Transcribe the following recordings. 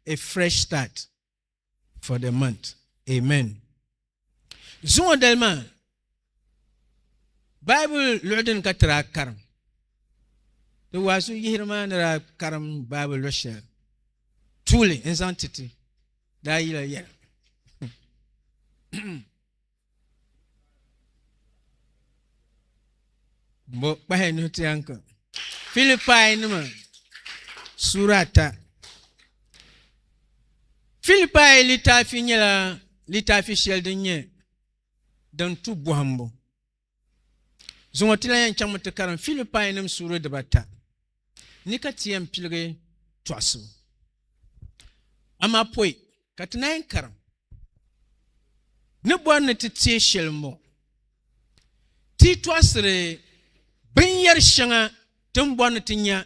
a fresh start for the month. Amen. Zuŋɔ dali maa Bible luɣu din ka tira karim. Di waazu yihiri maa ni daa karim Bible luɣu shɛli tuuli n zaŋ titi daa yila yɛla. Bo kpahi nuhi ti yanka. Filipai nima sura ata. Filipai litaafi nyɛla litaafi shɛli din nyɛ din tu bɔhimbu. Zuŋɔ ti lan yɛn chaŋmi ti karim Filipayinim suuri dibata ni ka ti yɛn piligi tɔɣisibu. Amaa pɔi ka ti naai karim ni bɔri ni ti teei shɛli m-bɔŋɔ, Ti yi tɔɣisiri binyɛr shɛŋa ti ni bɔri ni ti nya,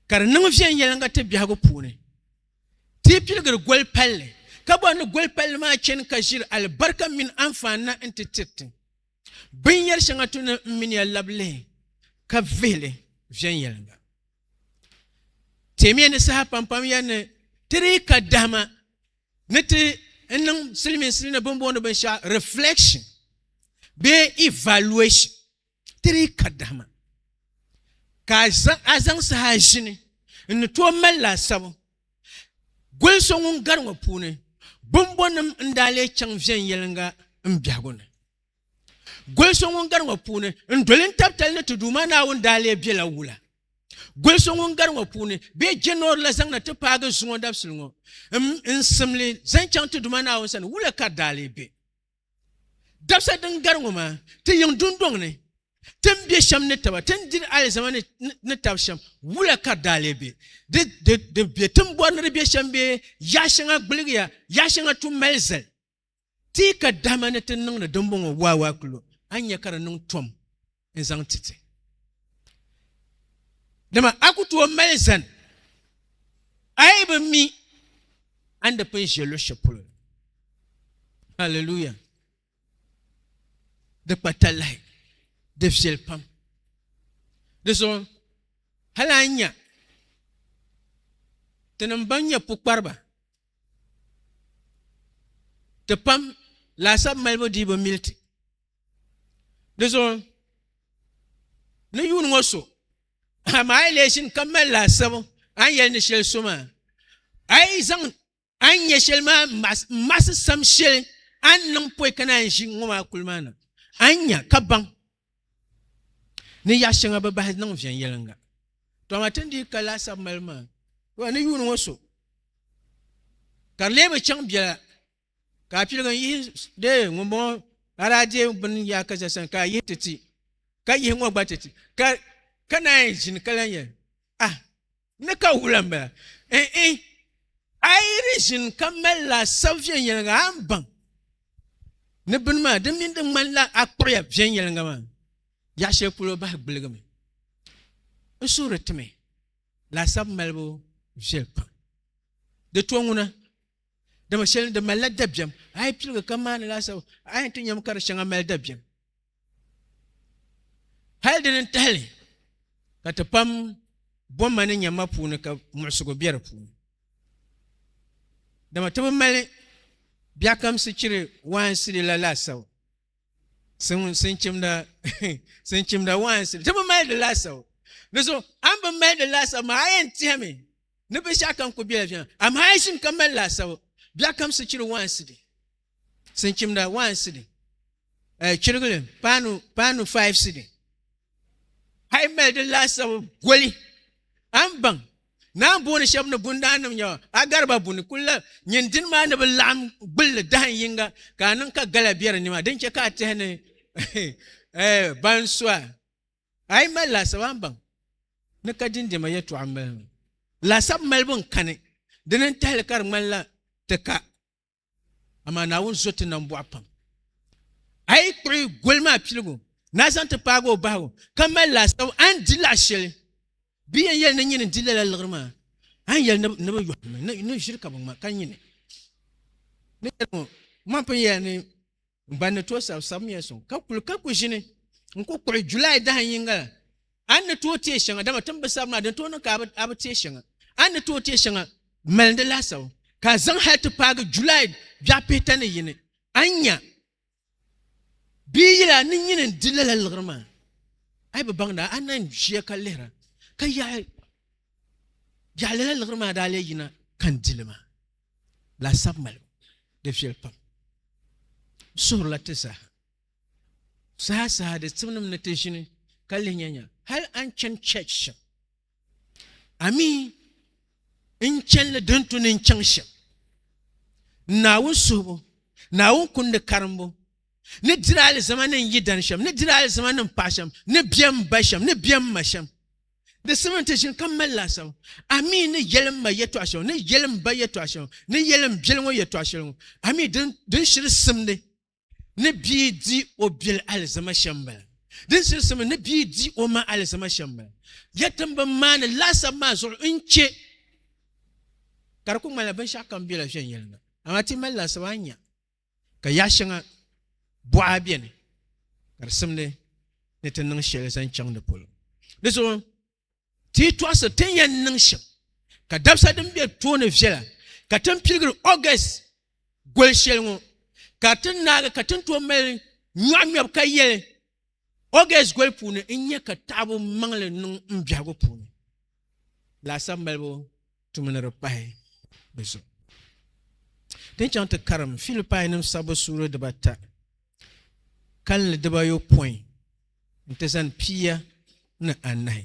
ka di niŋ viɛnyɛliŋga ti biɛhigu puuni. Ti yi piligiri goli palli, ka bɔri ni goli palli maa chani ka ʒiri alibarika mini anfaani na n-ti tiri ti, binyɛri shɛŋa tu ni m-mini ya labi lihi ka vihili viɛnyɛliŋga. Teemiya ni saha pampam ya ni ti dii ka dahima ni ti niŋ silimiinsili ni bɛ ni booni binshɛɣu reflection bee evaluation. ti dii ka dahima ka a zaŋ saha ʒini n ni tooi mali laasabu goli so ŋun gari ŋɔ puuni bɔmbɔnim n daa lee chaŋ viɛnyɛliŋga m biɛhigu ni goli so ŋun gari ŋɔ puuni n doli n tabitali ni ti Duuma Naawuni daa lee bela wula goli so ŋun gari ŋɔ puuni bee jɛnɔri la zaŋ na ti paagi zuŋɔ dabisili ŋɔ n simli zaŋ chaŋ ti Duuma Naawuni sani wula ka di daa lee be. Dabisa din gari ŋɔ maa, ti yiŋ dundɔŋ ni, ti ni be shɛm ni taba, ti ni diri alizama ni tab shɛm, wula ka di daa lee be? Di di be ti ni bɔri ni di be shɛm bee? Yaɣ shɛŋa gbiligiya, yaɣ shɛŋa tu mali zali. Ti yi ka dahima ni ti ni niŋdi dimbɔŋɔ waawaakilo, a ni nya ka di niŋ tom. n zaŋ ti ti dama a ku tooi mali zani a yi bi mi a ni di pun ʒe luɣ shɛli polo haleluya di kpa talahi di viɛli pam di zuɣu hali a nya ti nim ban nyɛ pukpariba ti pam laasabu malibu dii bi mili ti di zuɣu ni yuuni ŋɔ so amaa a yi lee ʒini ka mali laasabu a ni yɛli ni shɛli so maa a yi zaŋ a ni nyɛ shɛli maa n maɣasi sam shɛli a ni niŋ pɔi ka naan ʒi ŋɔ maa kuli maa na a ni nya ka baŋ ni yaɣa shɛŋa bi bahi niŋ viɛnyɛlinga to amaa tin dii ka laasabu mali maa ni yuuni ŋɔ so ka di lee bi chɛŋ biɛla Ka a piligi n yihi dee ŋunbɔŋɔ a daa deei bini yaa ka ʒɛ sani ka a yihi ti ti ka yihi ŋɔ gba ti ti ka ka naan yi ʒini ka lan yɛli ah ni ka wula n bala n i a yi di ʒini ka mali laasabu viɛnyɛlinga a ni baŋ ni bini maa di mini di ŋmanila a kpuɣiya viɛnyɛlinga maa yaɣa shɛli polo bahi gbiligimi n suhuri ti mi laasabu malibu viɛli pam di to ŋuna Dama shɛli ni di malila dabiɛm, a yi piligi ka maani laasabu, a yɛn ti nyami ka di shɛŋa mali dabiɛm. Hal dini n-tahili ka ti pam bomma ni nyamma puuni ka muɣisigu be di puuni. Dama ti bi mali biɛhikamsi chiri waansi dila laasabu, sinchimda sinchimda waansi, ti bi mali di laasabu. Di zuɣu a ni bi mali di laasabu maa, a yɛn tihimi. ni binshaɣu kam ku bela viɛŋ amaa a yi ʒim ka mali laasabu biɛɣu kam sichiri waansi di sinchimda waansi di eh, chirigili paanu paanu five sidi a yi mali di laasabu goli a ni baŋ naan booni shɛba ni bundaannim nyɛba a gariba buni kulla nyin dini maa ni bi laɣim gbulli dahin yinga ka a niŋ ka gala bɛ di nima din chɛ ka a tihi ni eh, ban sua A yi mali laasabu a ni baŋ ni ka dindɛma yɛtɔɣa m-mali mi. Laasabu malibu n-kani, dini n-tahi li ka di ŋmanila ti ka, amaa Naawuni zo ti nambɔɣu pam. A yi kpuɣi goli maa piligu ni a zaŋ ti paagi o bahigu ka mali laasabu a ni di laɣ shɛli, bɛ yɛn yɛli ni nyini n-di lala liɣiri maa, a ni yɛli ni bɛ yɔhimi ni ʒiri ka bɛ ŋma ka nyini. Ni yɛli ŋɔ, Mɔɣu pun yɛla ni N ba ni tooi sabisabimiya sɔŋ ka kuli ka ku ʒini n-ku kpuɣi July dahin yiŋga la, a ni ni tooi teei shɛŋa, dama ti ni bi sabi maa din tooi niŋ ka a bi teei shɛŋa. A ni ni tooi teei shɛŋa m-mali di laasabu, ka a zaŋ hali ti paagi July biɛɣu pihita ni yini, a ni nya bee yili a ni nyini n-di lala liɣiri maa. A yi bi baŋ daa, a ni lan ʒiya ka lihira ka yaɣi lala liɣiri maa daa lee yina ka n di li maa. laasabu mali di viɛli pam di suhurila ti zaaha saha saha di tibnim ni ti ʒini ka lihi nya nya hal an chani church shɛm ami n chanli din tu ni n chaŋ shɛm naawuni suhibu naawuni kundi karimbu ni diri alizama ni n yi dani shɛm ni diri alizama ni n paɣa shɛm ni biɛm ba shɛm ni biɛm ma shɛm Di simmi nti ʒini ka mali laasabu, a mi ni yɛli m ma yɛtɔɣ shɛŋa, ni yɛli m ba yɛtɔɣ shɛŋa, ni yɛli m biɛli ŋɔ yɛtɔɣ shɛli ŋɔ. A mi din shiri simdi ni bia di o biɛli alizama shɛm m-bala. Din shiri simdi ni bia di o ma alizama shɛm m-bala. Yɛtim bɛn maani laasabu maa zuɣu n-chɛ ka di kul ŋmanila binshɛɣukam bela viɛnyɛliŋga. Amaa ti yi mali laasabu, a ni nya. ka yaɣ shɛŋa buɣa bɛni ka di simdi ni ti niŋ shɛli zaŋ chaŋ di polo di zuɣu ti yi tɔɣisi ti ni yɛn niŋ shɛm ka dabisa din bɛ tooni viɛla ka ti ni piligiri August goli shɛli ŋɔ ka ti naagi ka ti ni tooi mali nyɔɣu ŋmɛbu ka yɛli August goli puuni n nyɛ ka taɣabu maŋli niŋ n biɛhigu puuni laasabu malibu tumi ni di pahi di zuɣu ti ni chaŋ ti karim Filipain nim sabbu suuri dibata kalinli dibayopɔin n ti zani pia ni anahi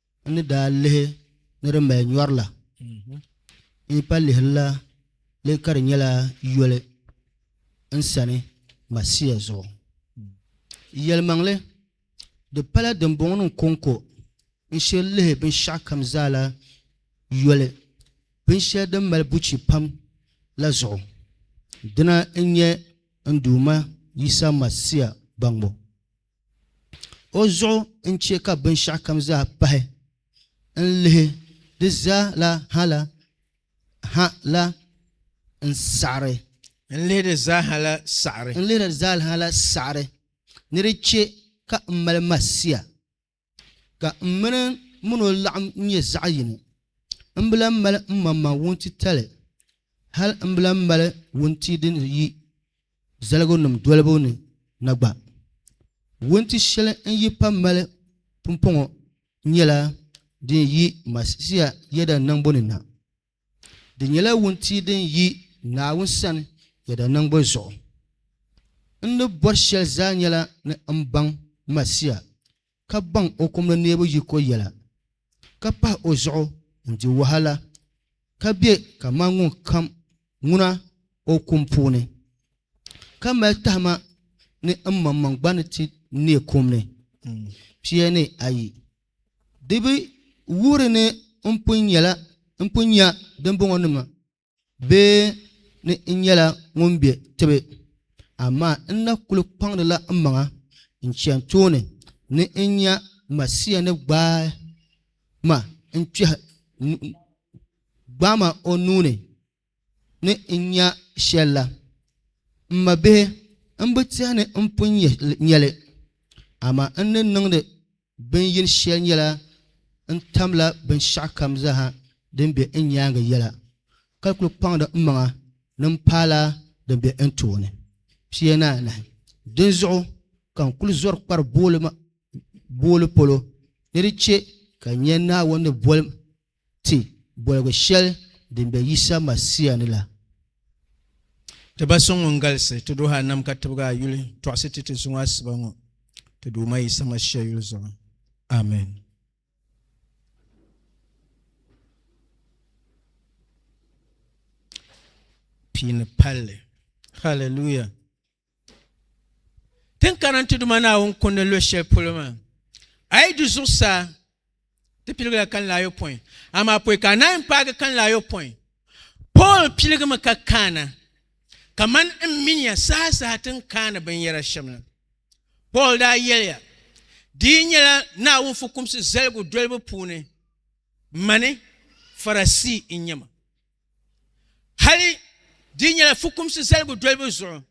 N ni daa lihi ni di mali nyɔri la, n yi pa lihirila li ka di nyɛla yoli n sani Masia zuɣu. Yɛlimaŋli, di pala dimbɔŋɔnim kɔŋko n shiri lihi binshɛɣukam zaa la yoli, binshɛli din mali buchi pam la zuɣu. Dina n-nyɛ n Duuma Yisa Masia baŋbu. O zuɣu n-chɛ ka binshɛɣu kam zaa pahi n-lihi di zaa la ha la ha la n-saɣiri. N-lihi di zaa ha la saɣiri. N-lihi di zaa ha la saɣiri ni di chɛ ka m mali ma sia. ka m mini min o laɣim nyɛ zaɣ yini. M bi lan mali m maŋmaŋ wuntitali, hal m bi lan mali wuntia din yi zaligunim dolibu ni na gba. Wunti shɛli n yi pa mali pumpɔŋɔ nyɛla din yi Masia yɛda niŋbu ni na. Di nyɛla wuntia din yi Naawuni sani yɛda niŋbu zuɣu. N ni bɔri shɛli zaa nyɛla ni m baŋ Masia, ka baŋ o kum ni neebu yiko yɛla, ka pahi o zuɣu n-di wahala, ka be kaman ŋun kam ŋuna o kum puuni, ka mali tahima ni m maŋmaŋ gba ni ti neei kum ni. Pia ni ayi. Di bi wuhiri ni n pun nyɛla n pun nya dimbɔŋɔ nima bee ni n nyɛla ŋun be tibi, amaa n na kul kpaŋdila n maŋa n-chani tooni ni n nya Masia ni gbaai ma n-kpɛhi gbaai ma o nuu ni ni n nya shɛl la, m mabihi, m bi tɛhi ni n pun nya li, amaa n ni niŋdi bini yini shɛli nyɛla n tamla binshɛɣu kam zaaha din be n nyaaŋa yɛla, ka kul kpaŋdi m maŋa ni m paala din be n tooni pia ni anahi. Dinzuɣu ka n kul zɔri kpari booli polo ni di chɛ ka n nya Naawuni ni boli ma. Ti boligu shɛli din be Yisa Masia ni la. Ti Ba so ŋun galisi, ti duhi a nam ka tibigi a yuli tɔɣisi ti ti zuŋɔ asiba ŋɔ, ti Duuma Yisa Masia yuli zuɣu. Amen. Pii ni palli. Hallelujah. Ti ni kana nti Duuma Naawuni kundi ni lo shɛli polo maa. A yi du zuɣusaa, ti piligila kalinli ayopɔin, amaa pɔi ka a naai m-paagi kalinli ayopɔin. Pool piligimi ka kaana, kaman n min ya sahasaha ti ni kaani binyɛra shɛm la. Pool daa yɛliya, Di yi nyɛla Naawuni fukumsi zaligu dolibu puuni, mani Farasii n-nyɛ ma. Hali di nyɛla fukumsi zaligu dolibu zuɣu,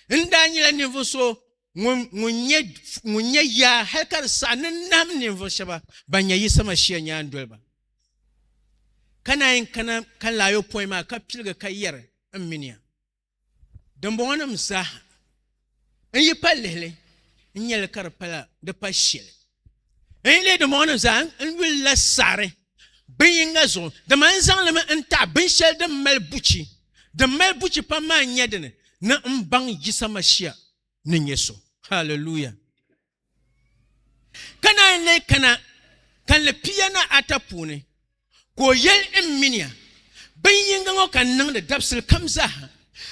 n daa nyɛla ninvuɣ so ŋun nya yaa hali ka di saɣi ni n nahim ninvuɣ shɛba ban nya Yisa Mashia nyaandoliba. Ka naa yɛn kana ka n laayopɔin maa ka piligi ka yɛri, M mi ni ya. dimbɔŋɔ nim zaaha n yi pa lihili n nyɛli ka di pala di pa shɛli n yi lihi dimbɔŋɔ nim zaaha n yulila saɣari bin yinga zuɣu dama n zaŋlimi n taɣa binshɛli din mali buchi din mali buchi pam maa n nyɛ dini ni n baŋ Yisa Mashia ni nyɛ so haleluya Ka naan lee kana kanli pia ni ata puuni, ka o yɛli n minia, Bin yinga ŋɔ ka n niŋdi dabisili kam zaaha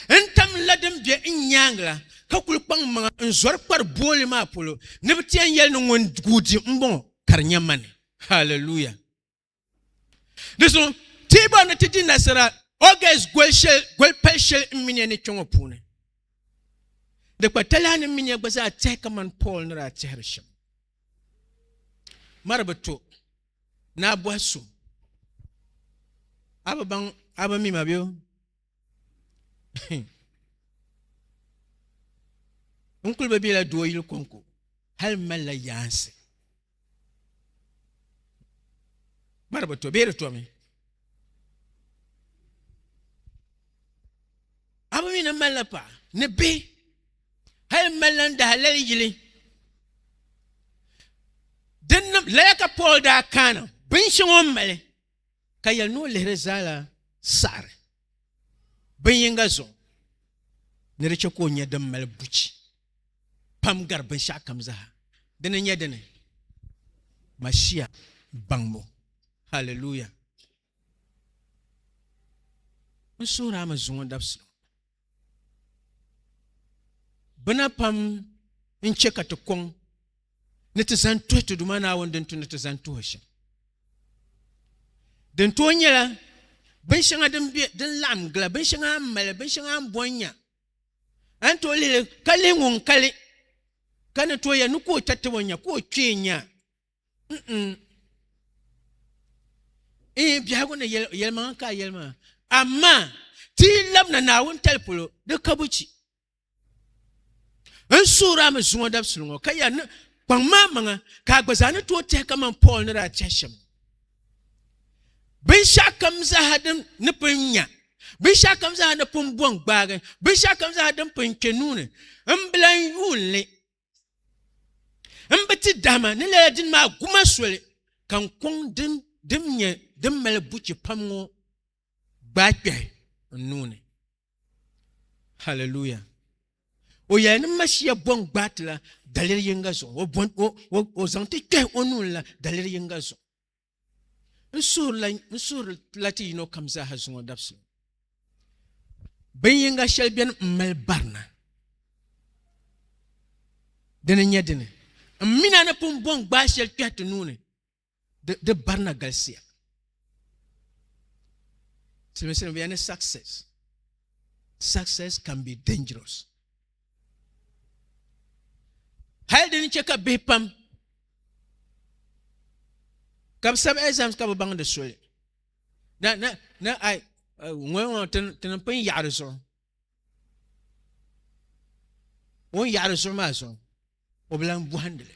n tam la din be n nyaaŋa la, ka kul kpaŋ m maŋa n zɔri kpari booli maa polo, ni bɛ ti yɛn yɛli ni ŋun guui di m-bɔŋɔ, ka di nya ma ni. Haleluya! di so ti bɔri ni ti di nasara august goli shɛli goli pali shɛli n minia ni kpɛ ŋɔ puuni di kpa talaa ni minia gba zaa tihi kamani paul ni daa tihiri shɛm mari bi to ni a bɔhi so a bi baŋ a bi mima bɛ n kuli bi bela doo yili kɔŋko hali malila yaansi Gbaribu to bee di tomi a bi mi ni malila paɣa ni bihi hali malila n daha lali yili dinnim lala ka Paul daa kaana binshɛŋa o mali ka yɛli ni o lihiri zaala saɣari bin yinga zuɣu ni di chɛ ka o nyɛ din mali buchi pam gari binshɛɣu kam zaa di ni nyɛ dini mashia baŋbu haleluya n suhuri a mi zuŋɔ dabisi bina pam n chɛ ka ti kɔŋ ni ti zani tuhi ti Duuma Naawuni din tu ni ti zani tuhi shɛm. Din tooi nyɛla binshɛŋa din laɣim gila, binshɛŋa a ni mali, binshɛŋa a ni bɔn nya. A ni tooi lihili ka lihi ŋun kali ka ni tooi yɛli ni ka o chɛ tab o nya, ka o kpee nya. Ee, biɛhigu ni yɛlimaŋa ka a yɛli maa, amaa ti yi labina Naawuni tali polo, di ka buchi. N suhiri a mi zuŋɔ dabisili ŋɔ, ka yɛli ni kpaŋ ma maŋa, ka a gba zaa ni tooi tɛhi kaman Pɔɔl ni daa tɛhi shɛm la. Binshɛɣu kam zaaha din ni pun nya, binshɛɣu kam zaaha ni pun bɔŋ gbaagi, binshɛɣu kam zaaha din pun kpe nuu ni, m bi lan yuun li. n bi ti dahima ni lala dini maa guma soli ka n kɔŋ din din nyɛ din mali buchi pam ŋɔ gbaai kpɛhi n nuu ni haleluya o yɛli ni masiya bɔŋ gbaai ti la daliri yinga zuɣu o zaŋ ti kpɛhi o nuu ni la daliri yinga zuɣu n suhuri la ti yino kam zaaha zuŋɔ dabisili bin yinga shɛli bɛni n mali barina dini nyɛ dini n mina ni pun bɔŋ gbaai shɛli kpɛhi ti nuuni di barina galisiya siliminsili bɛ ni success success can be dangerous hali dini chɛ ka bihi pam ka bi sabi exams ka bi baŋ di soli na na na ai ŋɔya ŋɔ tini pun yaɣari zuɣu o ni yaɣari zuɣu maa zuɣu o bi lan bɔhindi li,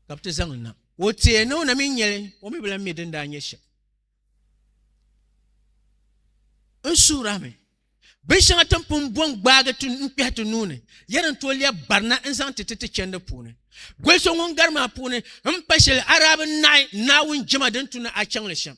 ka bi ti zaŋ li na. Ka o teei ni o na mi nya li, o mi bi lan mi din daa nyɛ shɛm. N suhir a mi, binshɛŋa ti ni pun bɔ n-gbaagi ti n-kpɛhi ti nuu ni, yɛn ni tooi lɛb barina n-zaŋ ti ti ti chɛndi puuni. Goli so ŋun gari maa puuni m-pa shɛli Araabinahi Naawuni jɛma din tu ni a chaŋ li shɛm.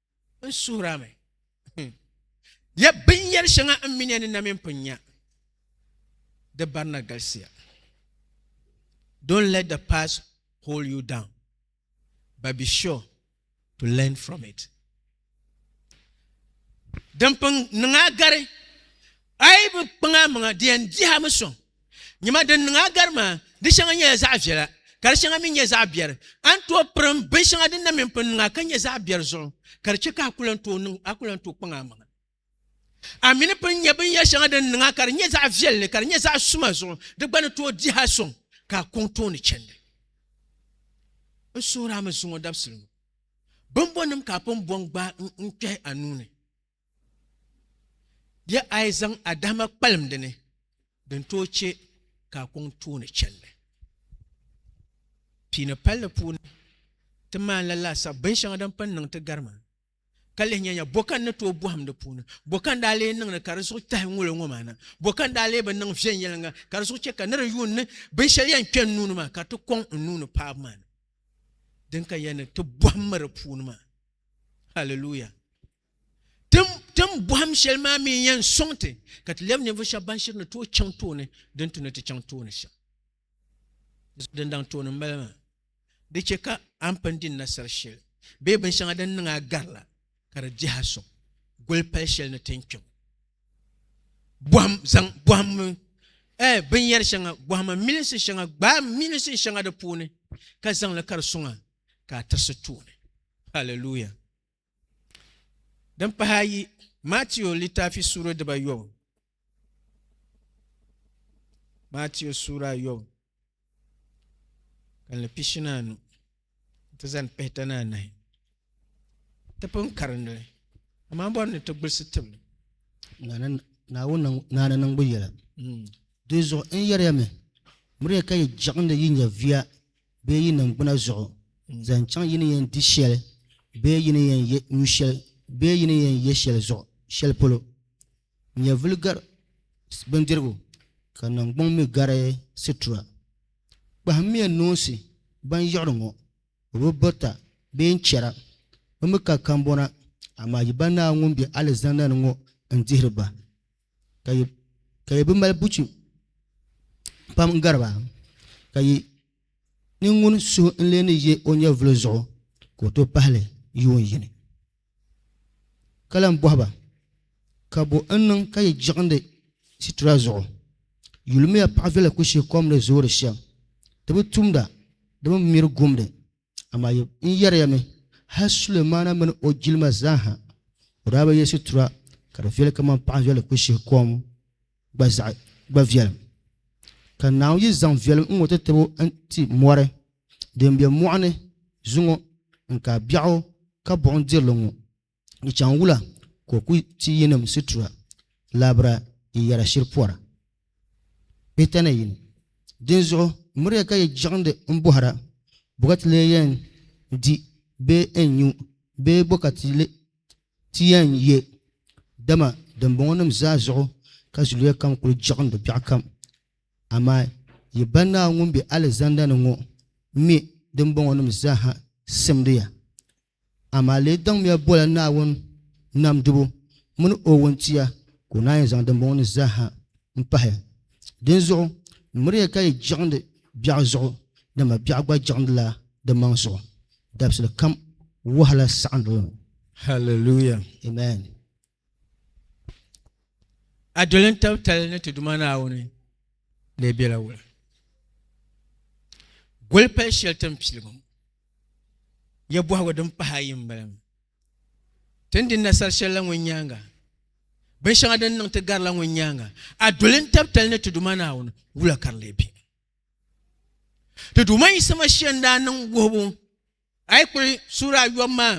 n suhira mi ya binyɛri shɛŋa n minia ni na mini pun nya di barina galisiya don't let the past hold you down but be sure to learn from it din pun niŋ a gari a yi bi kpaŋ a maŋa di yɛn dihi a mi sɔŋ Nima din niŋ a gari maa, di shɛŋa nyɛla zaɣ viɛla, ka di shɛŋa mi nyɛ zaɣ biɛri. A ni tooi pirim bin shɛŋa din na mini pun niŋ a ka nyɛ zaɣ biɛri zuɣu, ka di chɛ ka a ku lan tooi niŋ, a ku lan tooi kpaŋ a maŋa. A mi ni pun nya binyɛr shɛŋa din niŋ a ka di nyɛ zaɣ viɛlli, ka di nyɛ zaɣ suma zuɣu, di gba ni tooi dihi a sɔŋ ka a kɔŋ tooni chɛndi. N suhir a mi zuŋɔ dabisili ŋɔ, bimbɔnnim ka a pun bɔŋ gbaai n kpɛhi a nuu ni? Di a yi zaŋ a dahima kpalim di ni, din tooi chɛ ka a kɔŋ tooni chɛlli. Pii ni palli puuni, ti maani la laasabu binshɛŋa din pun niŋ ti gari maa, ka lihi nyanya bɔ ka n ni tooi bɔhim di puuni, bɔ ka n daa lee niŋdi ka di zuɣu tahi ŋ-ŋol ŋɔ maa na, bɔ ka n daa lee bi niŋ viɛnyɛliŋga ka di zuɣu chɛ ka nir yuun ni binshɛli yɛn kpe n nuu ni maa ka ti kɔŋ n nuu ni paab maa ni din ka yɛn ni ti bɔhim mi di puuni maa. Haliluya! Tim bɔhim shɛli maa mi n-yɛn sɔŋ ti ka ti lɛbi ninvuɣ shɛba ban shiri ni tooi chaŋ tooni din ti ni ti chaŋ tooni shɛm. Din daŋ tooni m-bala maa. Di chɛ ka a ni pun di nasar shɛli bee binshɛŋa din niŋ a gari la, ka di dihi a sɔŋ goli pal shɛli ni ti ni kpe ŋɔ. Binyɛr shɛŋa, bɔhim milinsi shɛŋa, gbaai milinsi shɛŋa di puuni, ka zaŋ li ka di sɔŋ a ka a tirisi tooni. Hallelujah! Din pahi ayi, Matiu litafi suura dibayobu. Matiu suura ayobu, kanli pishi ni anu ti zani pihita ni anahi. Ti pun karindili, amaa bɔri ni ti gulisi tibili. Naawuni naani niŋbu yɛla. Di zuɣu n yɛriya mi, miriya ka yi jiɣindi yi nyɛviya bee yi niŋgbuna zuɣu n-zaŋ chaŋ yi ni yɛn di shɛli bee yi ni yɛn nyu shɛli bee yi ni yɛn ye shɛli zuɣu shɛli polo. Nyɛvuli gari bindirigu, ka niŋgbuŋ mi gari situra. Kpahimmiya noonsi ban yiɣiri ŋɔ, bɛ bi birita bee n-chɛra, bɛ mi ka kambɔna, amaa yi ba Naa ŋun be alizanda ni ŋɔ n-dihiri ba. ka yi bi mali buchi pam n gariba ka yi ninŋuni suhu n lee ni yɛ o nyɛvuli zuɣu ka o tooi pahali yuun yini ka lahi bohi ba ka bo n niŋ ka yi jiɣindi situra zuɣu yulimiya paɣa viɛla ku shee kom ni zoori shɛm di bi tumda di bi miri gumdi Amaa yi n yɛri ya mi, hal Sulemaana mini o jilima zaa ha, o daa bi ye situra ka di viɛli kaman paɣ viɛli ku shihi kom gba zaɣ gba viɛlim. Ka Naawuni yi zaŋ viɛlim ŋ-ŋɔ ti tib o n-ti mɔri din be mɔɣu ni zuŋɔ n-ka biɛɣu ka buɣim diri li ŋɔ, Di chaŋ wula ka o ku ti yinim situra labira n-yɛra shiri pɔra? Pihita ni yini. Dinzuɣu miriya ka yi jiɣindi m-bɔhira, Bɔ ka ti lee yɛn di bee n-nyu bee bɔ ka ti yɛn ye? Dama dimbɔŋɔnim zaa zuɣu ka zuliya kam kul jiɣindi biɛɣukam. Amaa yi Ba Naawuni ŋun be alizanda ni ŋɔ mi dimbɔŋɔnim zaaha simdi ya. Amaa lee daŋmiya bola Naawuni nam dibu mini o wuntia ka o naan yi zaŋ dimbɔŋɔ ni zaaha m-pahi. Dinzuɣu, miriya ka yi jiɣindi biɛɣu zuɣu, dama biɛɣu gba jiɣindila di maŋ zuɣu. Dabisili kam wahala saɣindili mi. Hallelujah! Amen! A doli n tab tali ni ti Duuma Naawuni lee biɛla wula? Goli pali shɛli tin piligu ya bɔhigu din pahi ayi m-bala mi. Ti ni di nasar shɛli la ŋun nyaaŋa, binshɛŋa din niŋ ti gari la ŋun nyaaŋa, a doli n tab tali ni ti Duuma Naawuni, wula ka di lee be? Ti Duuma Yisa Masia n-daa niŋ wuhibu A yi kpuɣi suura ayɔbu maa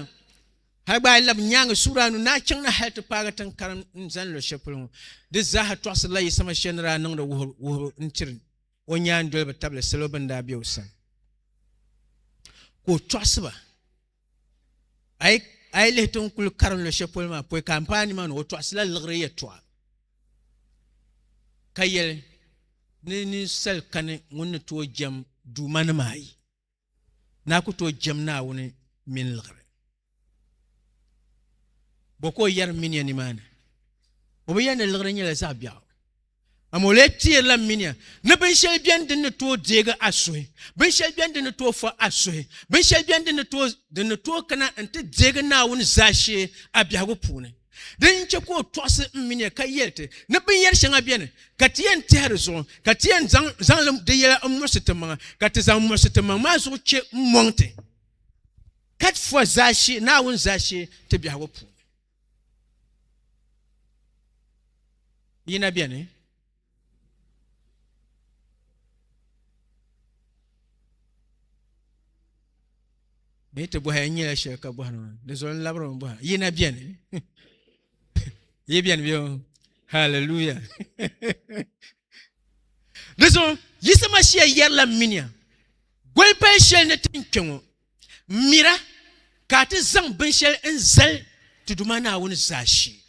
hali gba a yi labi nyaangi suura anu ni a chaŋ na hali ti paagi tiŋ karim n zani luɣ shɛli polo ŋɔ, di zaaha tɔɣisirila yi sama shɛli ni daa niŋdi wuhibu n-tiri o nyaandoliba tabili salo bɛn daa be o sani ka o tɔɣisi ba. A yi lihi tiŋ kul karim luɣ shɛli polo maa pɔi ka m paai nimaani o tɔɣisila liɣiri yɛtɔɣa ka yɛli ni ninsal kani ŋun ni tooi jɛm duumanima ayi. Naa ku tooi jɛm Naawuni mini liɣiri. Bɔ ka o yɛri minia nimaani? O bi yɛli ni liɣiri nyɛla zaɣ biɛɣu. Amaa o lee teerila minia ni binshɛli beni din ni tooi deegi a suhi, binshɛli beni din ni tooi fɔ a suhi, binshɛli beni din ni tooi kana nti deegi Naawuni zaashee a biɛhigu puuni. Dini n-chɛ ka o tɔɣisi m mini ya ka yɛli ti ni binyɛr shɛŋa beni ka ti yɛn tɛhi di zuɣu, ka ti yɛn zaŋ zaŋlim di yɛla m-muɣisi timaŋa, ka ti zaŋ muɣisi timaŋ maa zuɣu chɛ m-mɔŋ ti katifuwa zaashee Naawuni zaashee ti biɛhigu puuni. Yina beni. bee ti bɔhi n nyɛla shɛli ka bɔhi nima di zuɣu n labiri mi bɔha yina bɛni yi bɛni bɛ hallelujah di zuɣu yisa mashia yɛrila minia goli pali shɛli ni tin kpɛ ŋɔ M mira ka a ti zaŋ binshɛli n-zali ti Duuma Naawuni zaashee.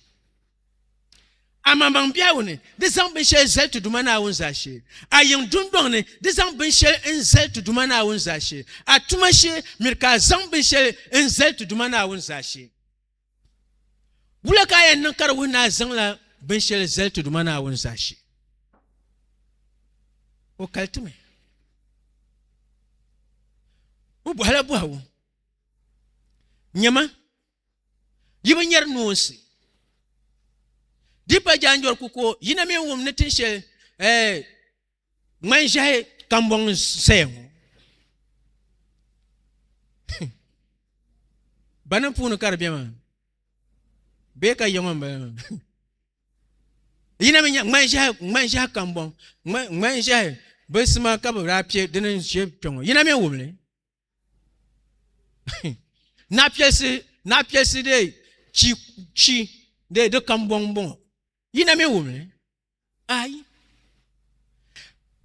Amaŋmaŋ biɛhigu ni, di zaŋ binshɛli zali ti Duuma Naawuni zaashee. A yiŋ dundɔŋ ni, di zaŋ binshɛli n-zali ti Duuma Naawuni zaashee. A tuma shee, miri ka a zaŋ binshɛli n-zali ti Duuma Naawuni zaashee. Wula ka a yɛn niŋ ka di wuhi ni a zaŋla binshɛli zali ti Duuma Naawuni zaashee? O kali ti mi. O bɔhila bɔhigu. Nyɛma, yi bi nyɛri noonsi. Di pa jaanjɔri ku ko yina mi wum ni tin shɛli eh, ŋmani ʒiɛhi kambɔŋ n saya ŋɔ bani puuni ka di bɛ maa bee ka yiŋɔ n bala maa yina mi nya ŋmani ʒiɛhi ŋmani ʒiɛhi kambɔŋ ŋmani ʒiɛhi bi sima ka bi daa pɛ dini ʒɛ kpɛŋɔ yina mi wumli na piɛlisi na piɛlisi de chi chi de di kam bɔŋ bɔŋɔ yi na mi wumi ayi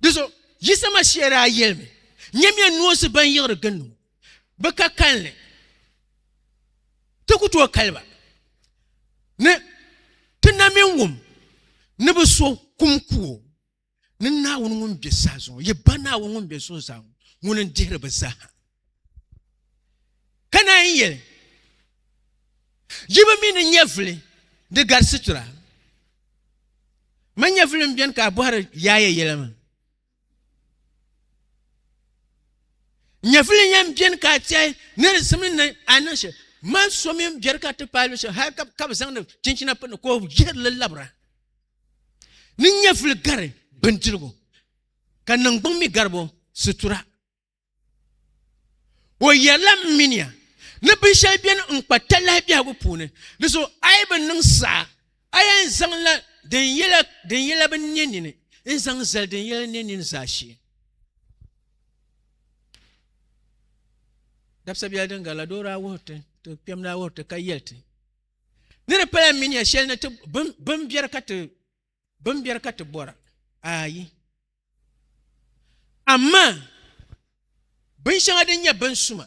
di so yi sama shɛli daa yɛlimi nyɛmiya noosi ban yiɣiri gindi ŋɔ bi ka kalinli ti ku tooi kaliba ni ti na mi wum ni bi so kum kuwo Ni Naawuni ŋun be saha zuŋɔ, yi Ba Naawuni ŋun be zuɣuzaa ŋɔ, ŋuni n-dihiri bɛ zaaha. Ka naan yɛli, Yi bi mi ni nyɛvili di gari situra? Ma nyɛvili m-beni ka a bɔhiri yaaya yɛla maa? Nyɛvili yɛn beni ka a tɛhi ni di simdi ni a niŋ shɛli? Ma so mi m-beri ka ti paai luɣishɛli hal ka bɛ zaŋdi chinchina pini ka o yihiri li labira. ni nyɛvuli gari bindirigu, ka niŋgbuŋ mi gari bo situra. O yɛrila, M minia, ni binshɛli beni n-kpa talahi biɛhigu puuni, di zuɣu a yi bi niŋ saha, a yɛn zaŋla din yela din yela bi ne nini n-zaŋ zali din yela ne nini zaashee. Dabisa biɛli din garila doo daa wuhiri ti, ti kpɛm daa wuhiri ti ka yɛli ti, ni di pala mi nya shɛli ni ti bin biɛri ka ti bɔra ayi amaa bin shɛŋa din nyɛ bin suma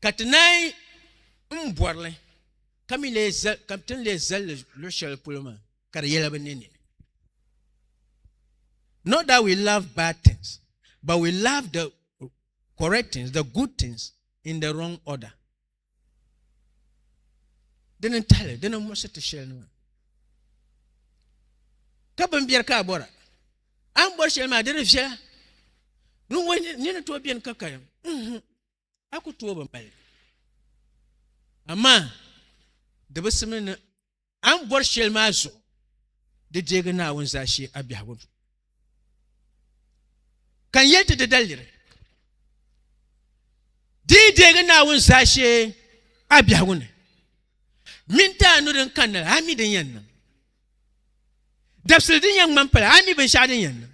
ka ti naai n bɔrili ka mi ka ti ni lee zalli luɣ shɛli polo maa ka di yɛla bi ne nini not that we love bad things but we love the correct things the good things in the wrong order dini n tahali dini n muɣisi ti shɛli nima ka bin biɛri ka a bɔra a ni bɔri shɛli maa di di viɛla din wo ni ni tooi biɛni ka karim a ku tooi bi mali amaa di bi simdi ni a ni bɔri shɛli maa zuɣu di deegi Naawuni zaashee a biɛhigu ni. Ka n yɛli ti di daliri, di yi deegi Naawuni zaashee a biɛhigu ni, mini ti a nu din kanna la, a mi din yɛn niŋ. Dabisili din yɛn ŋmani pala, a mi binshɛɣu din yɛn niŋ.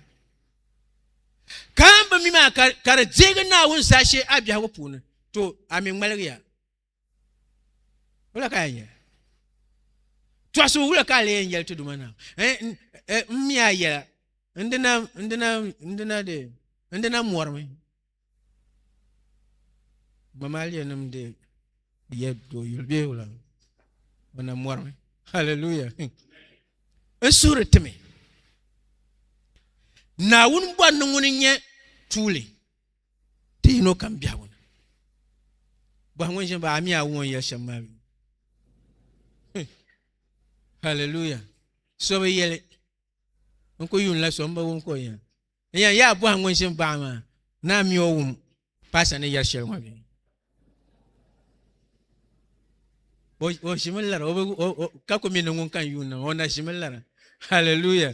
Ka a ni bi mi maa ka di deegi Naawuni zaashee a biɛhigu puuni, to a mi ŋmaligiya. wula ka yɛn yɛli tɔɣisi wula ka lee yɛn yɛli ti duma na n mi a yɛla n dina n dina n dina de n dina mɔrimi mamaaliya nim de yɛ do yuli bee wula o na mɔrimi hallelujah n suhiri timi naawuni bɔri ni ŋuni nyɛ tuuli ti yino kam biɛhigu ni bɔhi ŋun ʒini ba a mi a wuŋ yɛli shɛm maa haleluya so bi yɛli n ku yuun la so n bi wum ka o yɛn n yɛn yaa bɔhi ŋun ʒini baɣa maa ni a mi o wum paasa ni yɛli shɛli ŋɔ bɛ o ʒimi lara ka ku mi ni ŋun kan yuun na o na ʒimi lara haleluya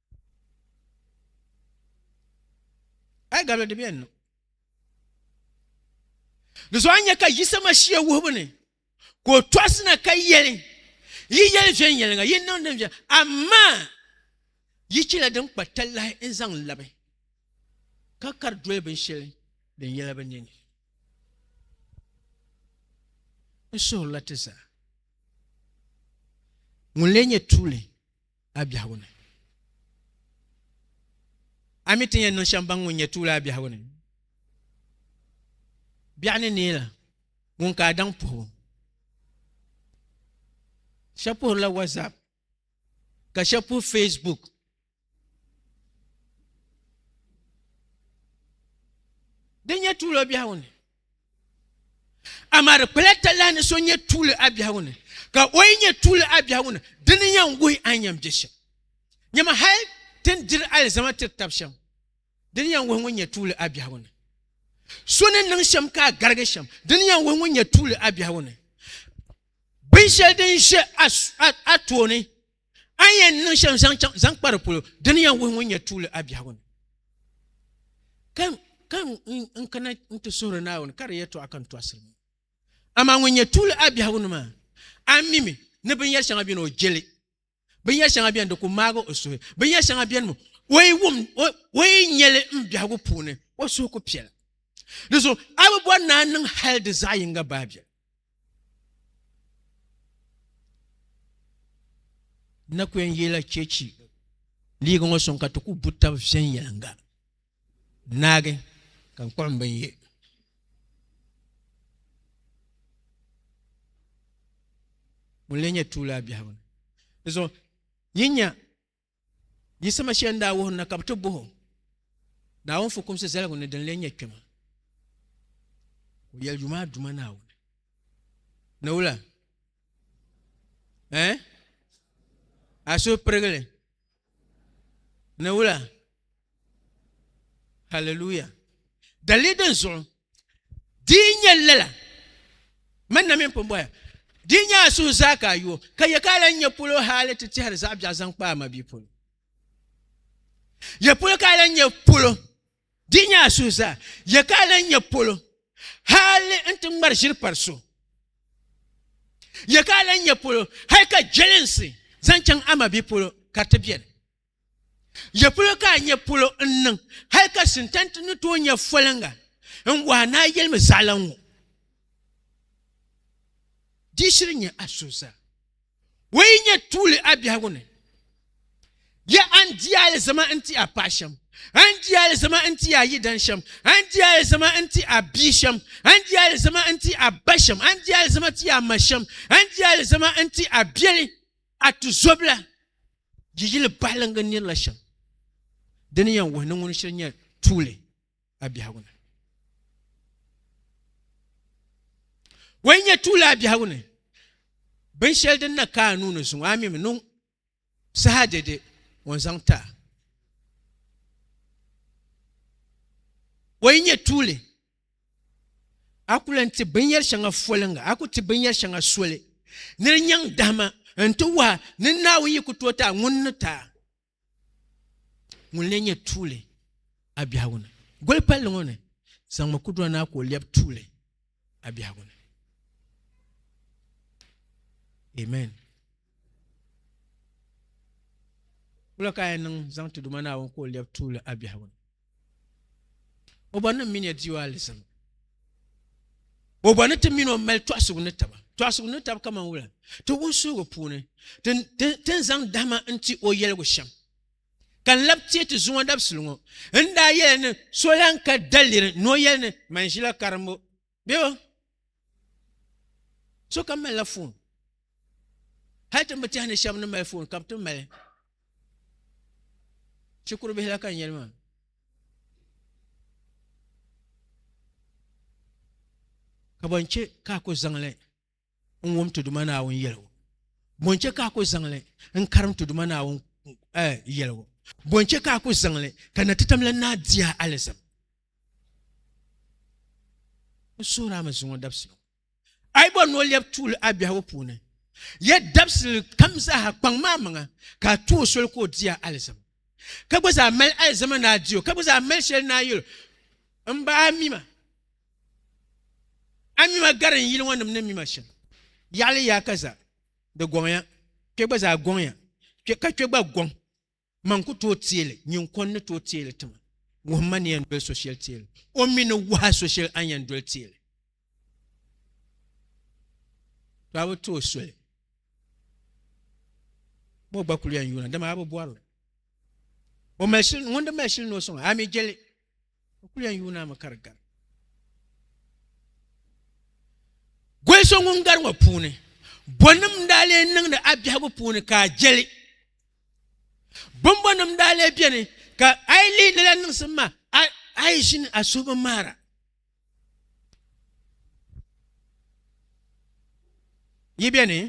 Ai gabila di bɛn niŋ. Di zuɣu a nya ka Yisa Mashia wuhibu ni ka o tɔɣisina ka yɛli, Yi yɛli viɛnyɛliŋga, yi niŋ din viɛl, amaa yi chɛla din kpa talahi n-zaŋ n labi, ka kari doli binshɛli din yɛla bi ni ni. N suhirila ti zaa. Ŋuni lee nyɛ tuuli? a biɛhigu ni. A mi ti ni yɛn niŋ shɛm baŋ ŋun nyɛ tuuli a biɛhigu ni. Biɛɣu ni neei la ŋun ka a daŋ puhibu. Shɛb puhirila WhatsApp ka shɛb puhi Facebook. Di nyɛ tuuli o biɛhigu ni. Amaa di kpala talahi ni so nyɛ tuuli a biɛhigu ni, ka o yi nyɛ tuuli a biɛhigu ni, di ni yɛn wuhi a ni yɛn bɛ shɛm. Nyama hal ti ni diri alizama tiri tab shɛm, di ni yɛn wuhi ŋun nyɛ tuuli a biɛhigu ni. So ni niŋ shɛm ka a garigi shɛm, di ni yɛn wuhi ŋun nyɛ tuuli a biɛhigu ni. Binshɛli din ʒe a tooni. A ni yɛn niŋ shɛm zaŋ chaŋ zaŋ kpa di polo di ni yɛn wuhi ŋun nyɛ tuuli a biɛhigu ni ka ka n kana n ti suhuri Naawuni ka di yɛtɔɣa ka n tɔɣisiri ŋɔ amaa ŋun nyɛ tuuli a biɛhigu ni maa a mimi ni binyɛri shɛŋa beni o jeli binyɛri shɛŋa beni di ku maagi o suhi binyɛri shɛŋa beni mi o yi wum o yi nyɛli n biɛhigu puuni o suhu ku piɛla di zuɣu a bi bɔri ni a niŋ hali di zaɣ yinga baabiɛl na ku yɛn yila chɛchi liiga ŋɔ sɔŋ ka ti ku bu tabi viɛnyɛlinga naagi ka n kpuɣi n bin yɛ ŋun lee nyɛ tuuli a biɛhigu ni di zuɣu nyin nya Yiɣisima shɛli n daa wuhiri na ka bɛ ti bɔh o, Naawuni fukumsi zaligu ni din lee nyɛ kpɛma, ka o yɛli yuma a Duuma Naawuni ni wula? Ɛɛh? A suhu pirigili ni wula? Hallelujah. Dalili din zuɣu di nyɛ lala man na min pun bɔya di nyɛ a suhu zaa ka a yuo ka yɛ ka a lan nyɛ polo haali ti tɛhiri zaɣ biɛɣu zaŋ kpa a mabihi polo yɛ polo ka a lan nyɛ polo di nyɛ a suhu zaa yɛ ka a lan nyɛ polo haali n ti ŋmari ʒiri pari so yɛ ka a lan nyɛ polo hali ka jɛlinsi zaŋ chaŋ a mabihi polo ka ti biɛni Ya polo ka a nya polo n-niŋ hal ka Sintani ti ni tooi nya foliŋga n-wɔhi ni a yɛlimi zaɣila ŋɔ. Di shiri nya a so zaa. O yi nya tuuli a biɛhigu ni, ya a ni di alizama n-ti a paɣ shɛm, a ni di alizama n-ti a yidan shɛm, a ni di alizama n-ti a bia shɛm, a ni di alizama n-ti a ba shɛm, a ni di alizama ti a ma shɛm, a ni di alizama n-ti a biɛli. A tizɔbila di yili bahiliŋga nirila shɛm di ni yɛn wuhi ni ŋuni shiri nyɛ tuuli a biɛhigu ni. O yi nyɛ tuuli a biɛhigu ni, binshɛli din na ka a nuu ni zuŋ a mi mi niŋ saha dɛde o ni zaŋ ti a. O yi nyɛ tuuli A ku lan ti binyɛr shɛŋa foliŋga, a ku ti binyɛr shɛŋa soli ni di nyaŋ dahima nti wahi ni Naawuni yi ku tooi ti a ŋun ni ti a ŋun lee nyɛ tuuli a biɛhigu ni. Goli palli ŋɔ ni, zaŋmi kudura na ka o lɛbi tuuli a biɛhigu ni. Amen. Wula ka a yɛn niŋ zaŋ ti Duuma Naawuni ka o lɛbi tuuli a biɛhigu ni? O bɔri ni m mini ya di o alizama. O bɔri ni ti mini o mali tɔɣisigu ni taba. Tɔɣisigu ni taba kaman wula? Ti wunsuhigu puuni, ti ni zaŋ dahima n-ti o yɛligu shɛm. Ka n labi teei ti zuŋɔ dabisili ŋɔ, n ni daa yɛli ni so lan ka daliri ni o yɛli ni, Man ʒila karimbu. bɛba sokam malila foon hali tin bi tiɛhi ni shɛba ni mali foon ka bi ti mali shikuru bihi la ka n yɛli maa ka ban chɛ ka a ku zaŋli n wum ti Duuma Naawuni yɛligu? Bɔ n-chɛ ka a ku zaŋ li n-karim ti Duuma Naawuni eh, yɛligu? Bɔ n-chɛ ka a ku zaŋ li ka na ti tam la naa di a alizama? N suhir a mi zuŋɔ dabisi ŋɔ. A yi bɔri ni o lɛbi tuuli a biɛhigu puuni, ya dabisili kam zaaha kpaŋ maa maŋa ka a tu o soli ka o di a alizama. Ka gba zaa mali alizama ni a di o, ka gba zaa mali shɛli ni a yɛl o, M ba, a mi ma. A mi ma gari n yili ŋɔ nim ni mi ma shɛm. Yaɣili yaa ka za, di gɔŋya, kpe gba zaa gɔŋya, kpe ka kpe gba gɔŋ. Man ku tooi teeli, nyin kɔn ni tooi teeli ti ma. Wuhim ma ni yɛn doli so shɛli teeli, o mi ni wuh a so shɛli a ni yɛn doli teeli. To a bi tooi soli, ma o gba kul yɛn yuuna, dama a bi bɔri li. O mali shili, ŋun di mali shili ni o sɔŋ a, a mi je li. O kuli yɛn yuuna mi ka di gari. Goli so ŋun gari ŋɔ puuni, bɔnim daa lee niŋdi a biɛhigu puuni ka a jeli. Bɔmbɔnim daa lee beni ka a yi lihi lala niŋsim maa, a yi ʒini a suhu bi ŋmaara. Yi beni?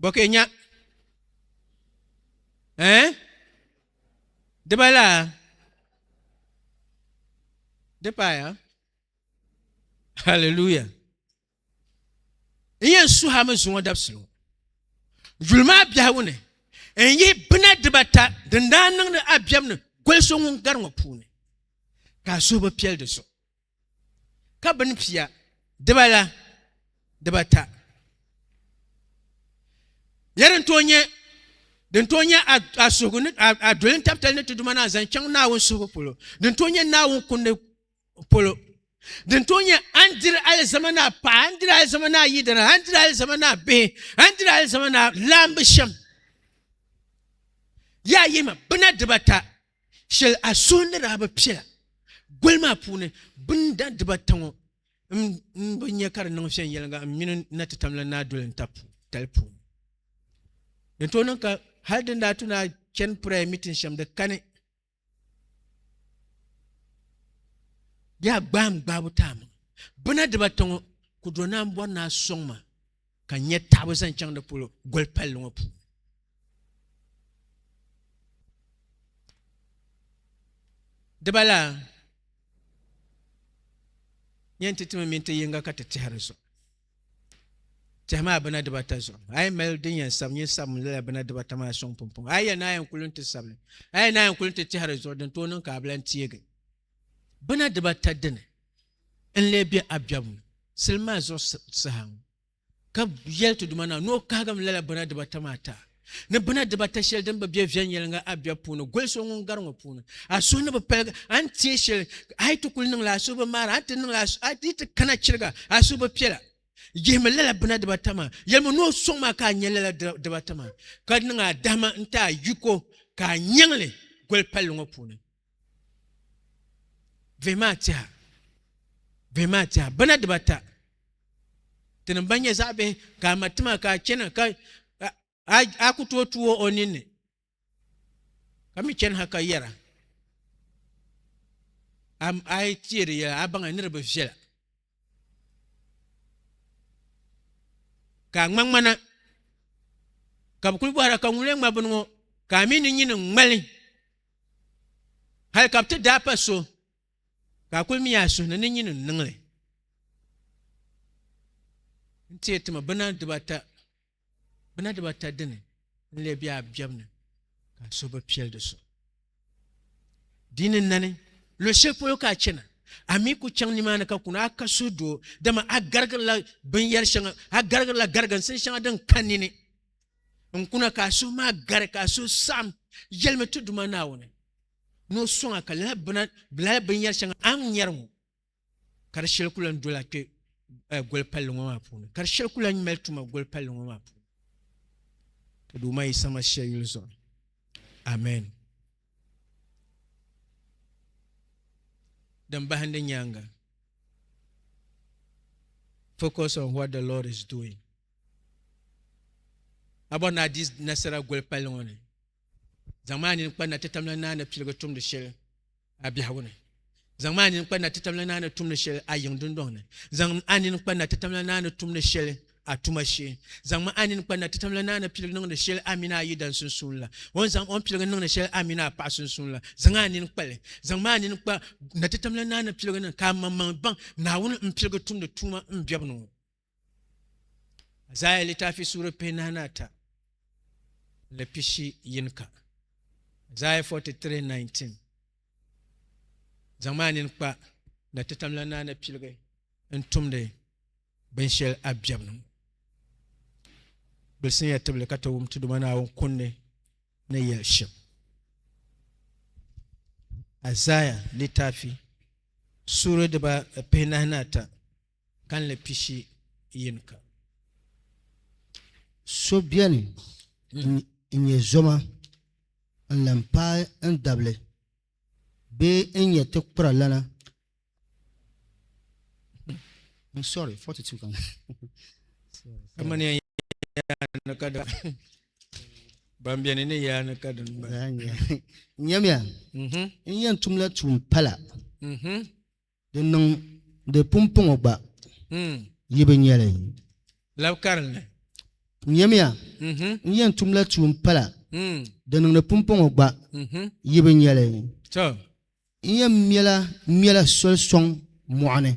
Bɔ ka yi nya? Eh? Dibala di paaya haleluya n yɛn suhami zuŋɔ dabisili ŋɔ yuli maa biɛhigu ni n yihi bina dibata din daa niŋdi abiɛm ni goli so ŋun gari ŋɔ puuni ka a suhu bi piɛli di zuɣu ka bini pia dibala dibata nyɛ din tooi nyɛ din tooi nyɛ a suhigu ni a doli n tabitali ni ti duma ni a zaŋ chaŋ naawuni suhigu polo din tooi nyɛ naawuni kundi polo din tooi nyɛ a ni diri alizama ni a paɣa a ni diri alizama ni a yidana a ni diri alizama ni a bihi a ni diri alizama ni a laambu shɛm yaa yima bina dibata shɛli a suhu ni daa bi piɛla goli maa puuni binda dibata ŋɔ m-bi nya ka di niŋ viɛnyɛliŋga m mini n natitamla ni a doli n taba tali puuni. Din tooi niŋ ka hal din daa tu ni a chani prayer meeting shɛm di kani di daa gbaai m gbaabu ti a maŋa. Bina dibata ŋɔ ku do ni a ni bɔri ni a sɔŋ ma ka n nya taɣibu zaŋ chaŋ di polo goli palli ŋɔ puuni. Dibala nyɛ nti ti mi mini ti yiŋga ka ti tɛhi di zuɣu. Tɛhi maa bina dibata zuɣu. A yi mali din yɛn sabi nyin sabi mi lala bina dibata maa sɔŋ pumpɔŋɔ. A yi yɛn naai yɛn kuli nti sabi li, a yi naai yɛn kuli nti tɛhi di zuɣu din tooi niŋ ka a bi lan teegi. bina dibata dini n-lee be a biɛbu ni sili maa zuɣu saha ŋɔ, ka yɛli ti duuma na ni o kahigim lala bina dibata maa ti a, ni bina dibata shɛli din bi be viɛnyɛliŋga a biɛbu puuni goli so ŋun gari ŋɔ puuni. A suhu ni bi paligi a ni teei shɛli, a yi ti kul niŋ li a suhu bi maari a, a ni ti niŋ li a yi ti kana chiriga a suhu bi piɛla. Yihimi lala bina dibata maa, yɛlimi ni o sɔŋ maa ka a nya lala dibata maa, ka niŋ a dahima n-ti a yiko ka a nyaŋ li goli palli ŋɔ puuni. Bihi maa tɛha bihi maa tɛha bana dibata ti ni ba nyɛ zaɣ bihi ka a ma tima ka a chɛna ka a ku tooi tuui o ninni ka mi chɛni ha ka yɛra a yi teeri yɛla a baŋ ni di bi viɛla ka a ŋmaŋmana ka bi kuli bɔhira ka ŋun lee ŋma bini ŋɔ ka a mii ni nyini n ŋmali hali ka bi ti daa pa so ka a kuli mi a suhu ni ni nyini n niŋli n teei tima bina dibata Gbuna dibata dini n-lee be a biɛbu ni ka a suhu bi piɛli di so? Di ni nani, luɣ shɛli polo ka a chana, a mi ku chaŋ nimaani ka kuni a ka suhu doo, dama a garigirila binyɛr shɛŋa, a garigirila gariginsin shɛŋa din ka nini. N kuna ka a suhu maa gari, ka a suhu saɣim. Yɛlimi ti Duuma Naawuni ni o sɔŋ a ka lala bina, lala binyɛr shɛŋa a ni nyari ŋɔ. ka di shɛli ku lan dola kpe goli palli ŋɔ maa puuni ka di shɛli ku lan mali tuma goli palli ŋɔ maa puuni ka Duuma Yisa Masia yuli zuɣu ni amɛn din bahindi nyaaŋa focus on what the Lord is doing a bɔri ni a di nasara goli palli ŋɔ ni zaŋ maa nini kpa na ti tamla naani piligi tumdi shɛli a biɛhigu ni. Zaŋm a nini kpa na ti tam la naani tum ni shɛli a yiŋ dundɔŋ ni. Zaŋm a nini kpa na ti tam la naani tum ni shɛli a tuma shee. Zaŋm a nini kpa na ti tam la naani piligi niŋdi shɛli a mini a yidana sunsuuni la. O ni zaŋ o ni piligi niŋdi shɛli a mini a paɣa sunsuuni la, zaŋ a nini kpa li. Zaŋm a nini kpa na ti tam la naani piligi ni ka a maŋmaŋ baŋ Naawuni m-piligi tumdi tuuma m biɛbu ni ŋɔ. Azaaya litafi suuri pihinahi ni ata ni pishi yini ka Azaaya 43:19 zaŋ maa nini kpa na ti tamla naa ni piligi n tumdi binshɛli a biɛbu ni gbilisinya tibili ka ti wum ti Duuma Naawuni kundi ni yɛli shɛm Azaaya litafi suuri diba pihinahi ni ata kanli pishi yin ka. So beni n-nyɛ zoma n-lan paai n dabili bee n-nyɛ ti kpura lana kamani n-yɛn tumla tuun pala. Di niŋ di pumpɔŋɔ gba, yi bi nya li. Lab karinli. Nyamiya, n yɛn tumla tuun pala, di niŋ di pumpɔŋɔ gba, yi bi nya li. Tɔ! N yɛn mɛla mɛla soli sɔŋ mɔɣu ni,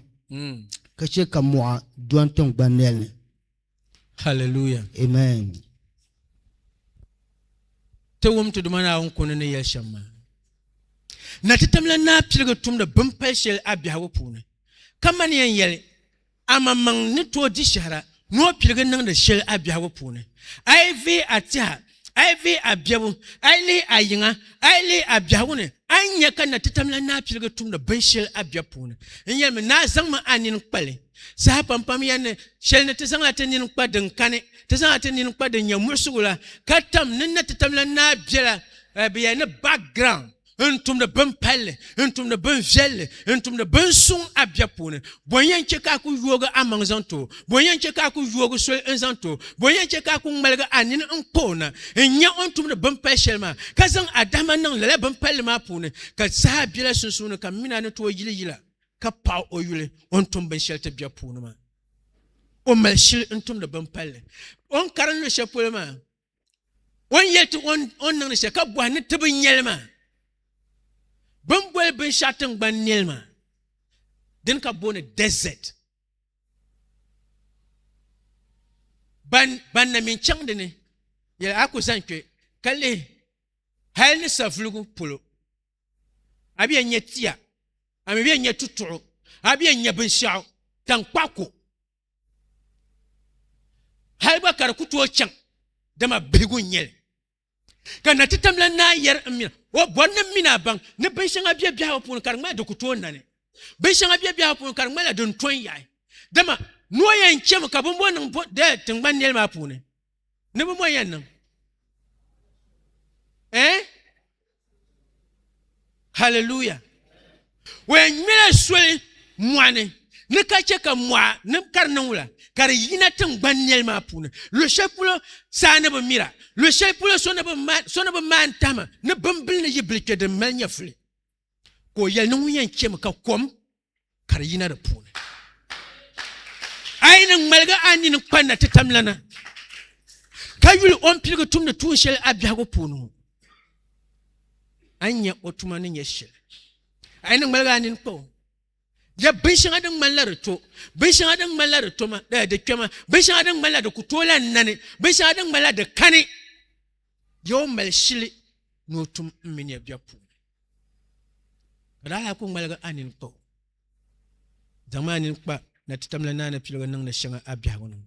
ka chɛ ka mɔɣu do n tiŋgbani nɛli ni. Hallelujah. Amen. Ti wum ti Duuma Naawuni kuni ni yɛli shɛm maa. Na ti tamla naa piligi tumdi bin pali shɛli a biɛhigu puuni. Ka man yɛn yɛli, a maŋmaŋ ni tooi di shɛhira ni o piligi niŋdi shɛli a biɛhigu puuni. A yi vihi a tiha A yi vihi a biɛbu, a yi lihi a yiŋa, a yi lihi a biɛhigu ni, a ni nya ka Natitam la naa piligi tumdi binshɛli a biɛbu puuni. N yɛlimi, Naa zaŋmi a nini kpa li. Saha pampam ya ni shɛli ni ti zaŋla ti nini kpa din kani, ti zaŋla ti nini kpa din nyɛ muɣisigu la, ka tam ni Natitam la naa biɛla bɛ ya ni background. n tumdi bin palli, n tumdi bin viɛlli, n tumdi bin suŋ a biɛb puuni. Bɔ n yɛn chɛ ka a ku yoogi a maŋ zaŋ ti o? Bɔ n yɛn chɛ ka a ku yoogi soli n zaŋ ti o? Bɔ n yɛn chɛ ka a ku ŋmaligi a nini n kpa o na, n nya o ni tumdi bin pal shɛli maa, ka zaŋ a dahima niŋ lala bin palli maa puuni? Ka saha bela sunsuuni ka m min a ni tooi yili yila, ka paɣi o yuli o ni tum binshɛli ti biɛb puuni maa. O mali shili n tumdi bin palli o ni karim luɣ shɛli polo maa. o ni yɛli ti o ni niŋdi shɛli ka bɔhi ni ti bi nyɛli maa bi ni boli binshɛɣu tingbani nɛli maa dini ka booni desert ban ban na min chaŋ dini yɛli a ku zaŋ kpɛ ka lihi hali ni savuligu polo a bɛ yɛn nyɛ tia a mi bɛ yɛn nyɛ tutuɣu a bɛ yɛn nyɛ binshɛɣu tankpaɣu ko hali gba ka di ku tooi chaŋ dama bihigu n nyɛli ka na ti tamla naa yɛri n mina o bɔri ni mina baŋ ni binshɛŋa bɛ biɛhigu puuni ka di ŋmali di ku tooi nani binshɛŋa bɛ biɛhigu puuni ka di ŋmalila din tɔn yaɣi dama ni o yɛn chɛmi ka bimbo niŋ tingbani nɛli maa puuni ni bi mo yɛn niŋ eh hallelujah wɛn ŋmɛla soli mɔɣani ni ka chɛ ka mɔɣa ni ka di niŋ wula ka di yina tingbani nɛli maa puuni luɣ shɛli polo saa ni bi mira luɣ shɛli polo so ni bi maan tahima ni bimbili ni yibili kpɛ din mali nyɛfuli ka o yɛli ni ŋun yɛn chɛmi ka kom ka di yina di puuni a yi ni ŋmaligi a nini kpa na ti tam lana ka yuli o ni piligi tumdi tuun shɛli a biɛhigu puuni ŋɔ a nyɛ o tuma ni nyɛ shɛli a yi ni ŋmaligi a nini kpa o ya binshɛŋa din ŋmanila di to binshɛŋa din ŋmanila di toma di kpɛma binshɛŋa din ŋmanila di ku toola nani binshɛŋa din ŋmanila di kani Bɛ o mali shili ni o tum m mini ya bɛ puuni. Ka di alaha ku ŋmaligi a nini kpa o. Zaŋm a nini kpa na ti tamla naana piligu niŋdi shɛŋa a biɛhigu ni ŋɔ.